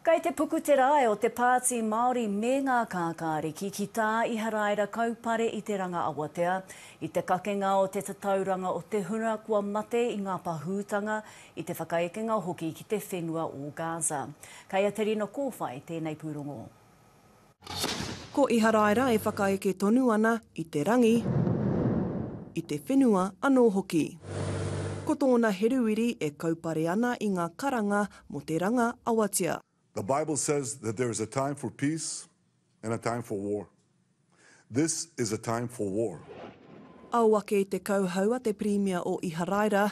Kei te puku te rae o te Pāti Māori me ngā kākāriki ki tā Iharaira kaupare i te ranga awatea, i te kakenga o te tatauranga o te huna kua mate i ngā pahūtanga, i te whakaekenga hoki ki te whenua o Gaza. Kei a Te Rino Kōwhai tēnei pūrongo. Ko Iharaira e whakaeke tonu ana i te rangi, i te whenua anō hoki. Ko tōna heruiri e kaupare ana i ngā karanga mō te ranga awatea. The Bible says that there is a time for peace and a time for war. This is a time for war. Ao ake i te kauhau a te Pirimia o Iharaira,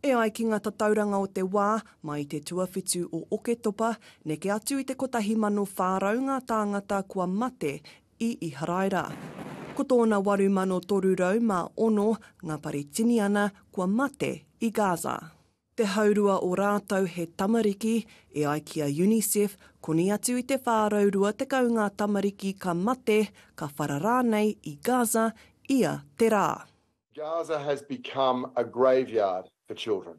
E ai ki ngā tatauranga o te wā, mai i te tuawhitu o Oketopa, neke atu i te 1,400 ngā tāngata kua mate i Iharaira. Ko tōna 8,306 ngā Paritiniana kua mate i Gaza. Te haurua o rātou he tamariki, e ai ki a Unicef, koni atu i te 420 ngā tamariki ka mate, ka whara rānei i Gaza ia te rā. Gaza has become a graveyard for children.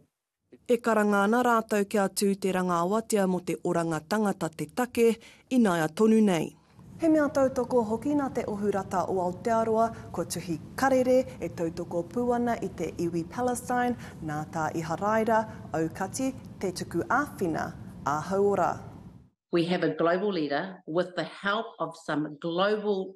E karanga ana rātou kia tū te rangaawatea mō te oranga tangata te take ināia tonu nei. He mea tautoko hoki nā te Ohu Rata o Aotearoa, kua tuhi karere e tautoko pū ana i te iwi Palestine, nā tā Iharaira, aukati, te tuku āwhina, ā-hauora. We have a global leader with the help of some global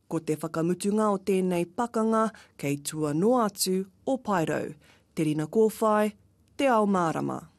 Ko te whakamutunga o tēnei pakanga kei tua noa atu o Paerau, Te Rina Kōwhai, Te Ao Mārama.